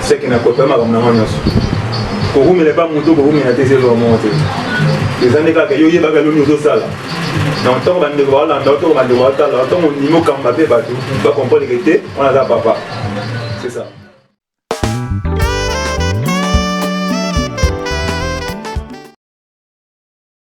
seke nakota makambo nango nyonso kokumela epa moto kokumela te ezelwa moko te eza nde kaka yo oyebaka eloni ozosala donc ntango bandeko balanda ntango bandeko batala ntango ondimi okamba mpe bato bakomprendre te wana aza papa c'est ça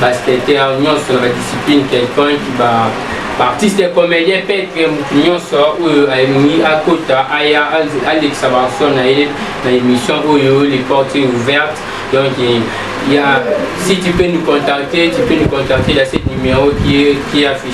basketteur nyonso na badiscipline quelconque ba baartiste comédien petre motu nyonso oyo alingi akota aya alekisa baarso na ye na émission oyo les portes ouvertes donc ya si tu peux nous contacter tu peux nous contacter na cette numéro qui est, qui est affiché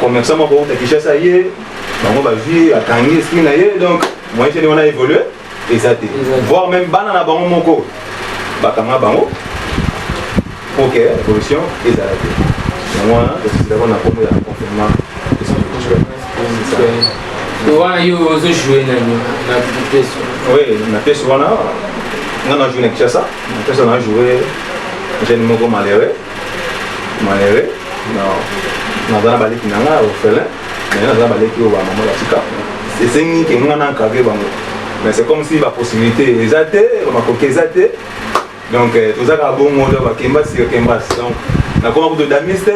commerçant moko uta kinshasa ye bango bazwi akangi esprit na ye donc moyen tene wana évolue eza te voire même bana na bango moko bakanga bango pour que évolution ezala te yango wana tosilako na kombo ya confinement wana yo ozojoue nani na pièce oui na pièce wana nga na joue na kinshasa na pièce wana joue jeune moko malheureux malere naza na baleki na ngai orphelin mais naza na baleki oyo bamama batika esengi ke ngai na encadre bango mais c'est comme si bapossibilité eza te makoki eza te donc euh, toza kaka bongo to bakemba sio kemba donc nakoma kutu damiste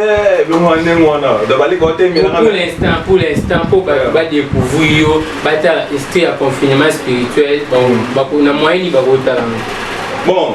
elongo ya ndenge wana donc baleki otemelaainstant pour l'instant mpo bato badécouvrir yo batala estre ya confinement spirituel na moyeni bakotalanga bon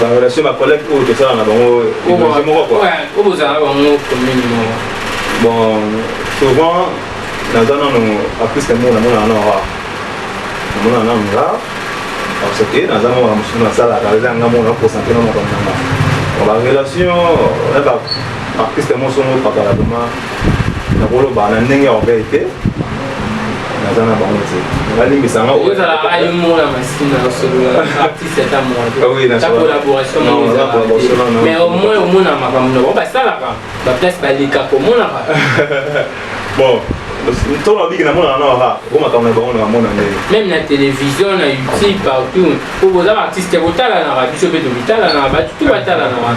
ba relation ba collègue oyo tosala na bango étranger moko quoi oyo bozala bango commune moko bon souvent naza nano aprise yango namona nano ra namona nano ra parce que naza moko na mosusu nasalaka eza nga moko nakosantre na makambo nanga ba relation na ba artiste yango songo pakala vraiment nakoloba na ndenge ya orgueil te naza na bango te balimbisa nga mais au moins omona makambo na bango basalaka baplace baleka komonaka bon ntango nabiki namonaka na waka o makambo na bango na bamona ndenge meme na télévision na youtube partout oboza baartiste kotalanaka biso mpe tobitalanaka bato tu batalanaka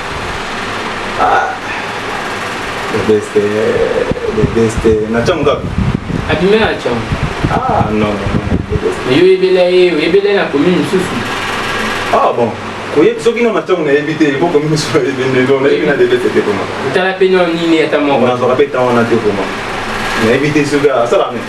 Ah. Le best, eh, le best. Eh, na changu ngapi? Abime na changu. Ah non. Mais yo yebela ye, yebela na commune mosusu. Ah bon. oyebi soki nano ntango nayebi te eboko miso ebendelo nayebi na debete te koma otala mpe nao nini ata moko nazwaka mpe ntango wana te koma nayebi te soki asalaka nini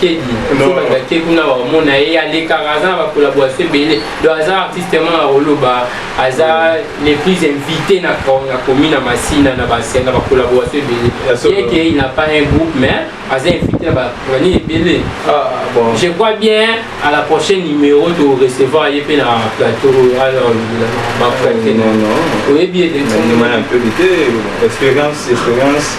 kedi kobanda te kuna bakomona ye alekaka aza na bacollaboration ebele donc aza artiste ma na koloba aza le plus invité na commune na masina na basena bacollaboration ebele yeke il na pas un groupe mais aza invité na bani ebele ah, je crois bien à la prochaine numéro to recevoir ye mpe na plateau oyo alolobela baprete oyebi ete expérience expérience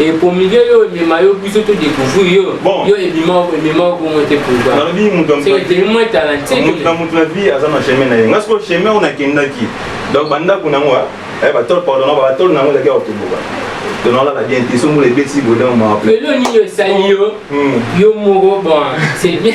Et pour milieu yo emema yo biso to découvrir yo bon. yo ebima ebima ko mote pour ba na bi mutu am c'est que moi talenté mutu na mutu na vie aza na chemin na ye ngasko chemin on a kendaki donc banda kuna ngwa eh ba tol pardon ba tol na ngwa kia otubuka donc on la bien tisumbu le besi bodan ma pe lo ni yo sali yo yo moko bon c'est bien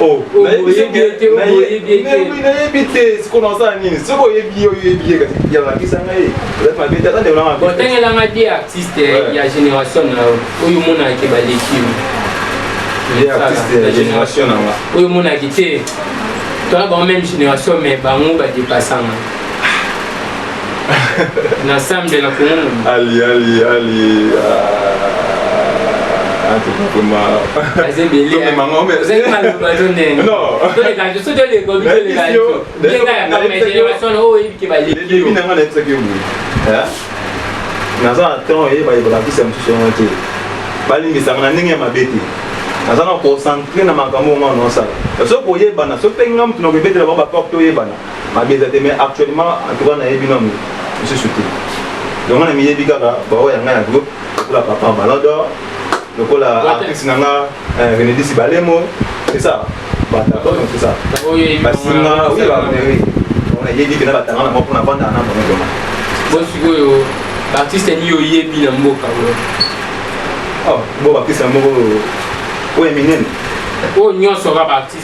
Oh, nayebi te siko nasala nini soki oyebi yo oyebi ye kasi yalakisa ngai ezali mabe te ata ndeko na mabe otangelanga te artiste ya génération na yo oyo omonaka baleki oyo omonaki te tona bango même génération mais bango badepasanga na sambe na kongo ali ali ali nanga nayebisaki yo boye naza na temps eye balakisa mosusu yango te balimbisaka na ndenge ya mabe te naza na concentre na makambo onga naosala soki koyebana soki mpe nga motu na koyebetela bango baporte oyebana mabe eza te mais actuellement en tout cas nayebi nanu mosusu te donc nga na miyebi kaka baoyo ya ngai ya groupe lokola papa ballon d'or lokola artiste na nga eh, renedisi balemo c'est ça batabon c'est ça basinga oui bameri nayebi kena batanga na moko na banda na bango doma bo sikoyo baartiste nini oyebi na mboka oh, bo baartiste na moko oyo eminene oyo nyonso kaka baartiste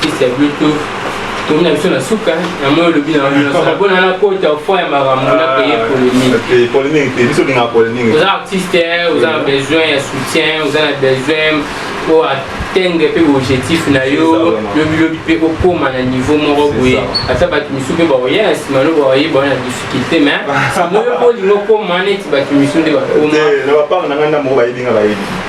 Kisi ya Bluetooth tomi na biso na suka na moi olobi na mpona nakota fo ya makambo na paye polémiqueoza artiste oza na besoin ya soutien oza na besoin po atteindre mpe objectif na yo lobilobi mpe okóma na niveau moko boye ata bato misu mpe baoya na nsima no baoye baoya na difficulté mais simoyo mpo olingi okóma neti bato misu nde bakóma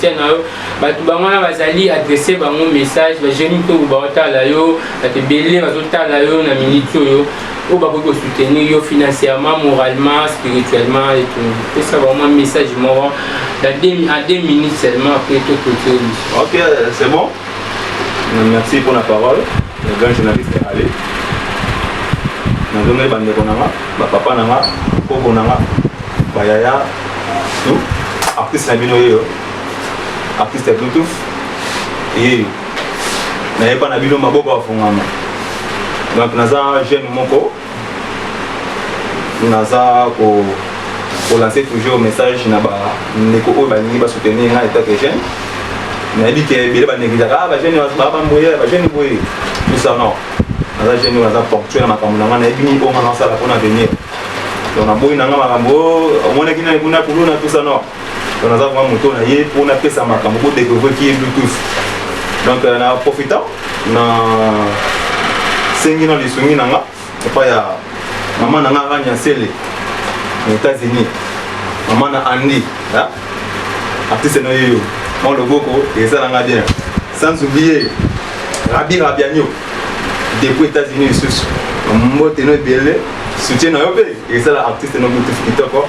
tia na yo bato bango wana bazali adresse bango message bajeune mpe oyo baotala yo bato ebele bazotala yo na miniti oyo oyo bakoki kosoutenir yo financièrement moralement spirituellement etu pesa vraiment message moko à deux minutes seulement après to clôture ok c'est bon merci pour la parole Le grand journaliste est allé. nazomeli bandeko na nga bapapa na nga koko na nga bayaya tout artiste na bino yeyo artiste ya bluetooth yeyo nayeba na bino maboko afungama donc naza jeune moko naza ko kolanse toujours message na bandeko oyo balingi basoutenir ngai etat que jeune nayebi ke ebele baneglijaka ah, bajeune baa bamboye bajeune boye tusa non naza jeune oyo naza ponctuel na makambo na ngai nayebi nini oyo ngai nasala mpona avenir donc naboyi na ngai makambo oyo oh, omonaki nani kuna kuluna tusa non donc naza vraiment moto na ye mpo napesa makambo ko découvrir ki ye bluetooth donc euh, na profitant na sengi na lisungi na nga epai ya mama na nga rania sele na états-unis mama na andi artiste na yeyo mwa loboko ezala nga bien sans oublier rabi rabianio depuis états-unis lisusu mbote no ebele soutien na yo mpe ezala artiste no bluetooth kitoko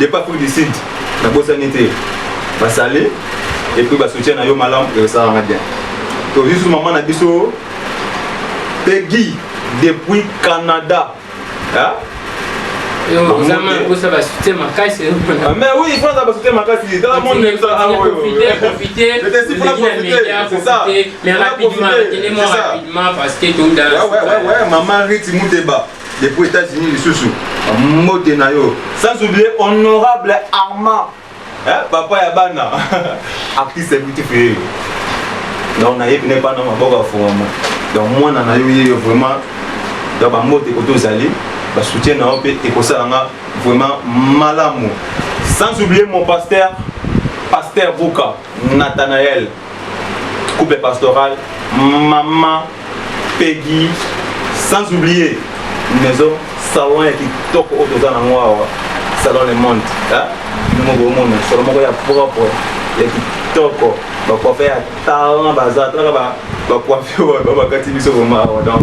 Depuis Afrique du Sud, na bosani te. Ba sali et puis ba soutien na yo malam et ça va bien. To juste maman na biso Peggy depuis Canada. Hein? oza basute makasi mais oui fo aza basute makasi tala monde ezala aoyomaman riti muteba depuis États-Unis lisusu mbote na yo sans oublier honorable Armand eh, papa ya bana artiste ya beautiful yeyo donc nayebi ne bana maboko afungama donc mwana na yo yeyo vraiment donc bambote koto ozali basoutien na yo mpe ekosala nga vraiment malamu sans oublier mon pasteur pasteur buka nathanael couple pastoral maman pegi sans oublier maison salon ya kitoko oyo toza nango awa salon le monde ndenge omona solo moko ya propre ya kitoko bacoife ya talent baza talaka bacoife oyo babakati biso koma awa donc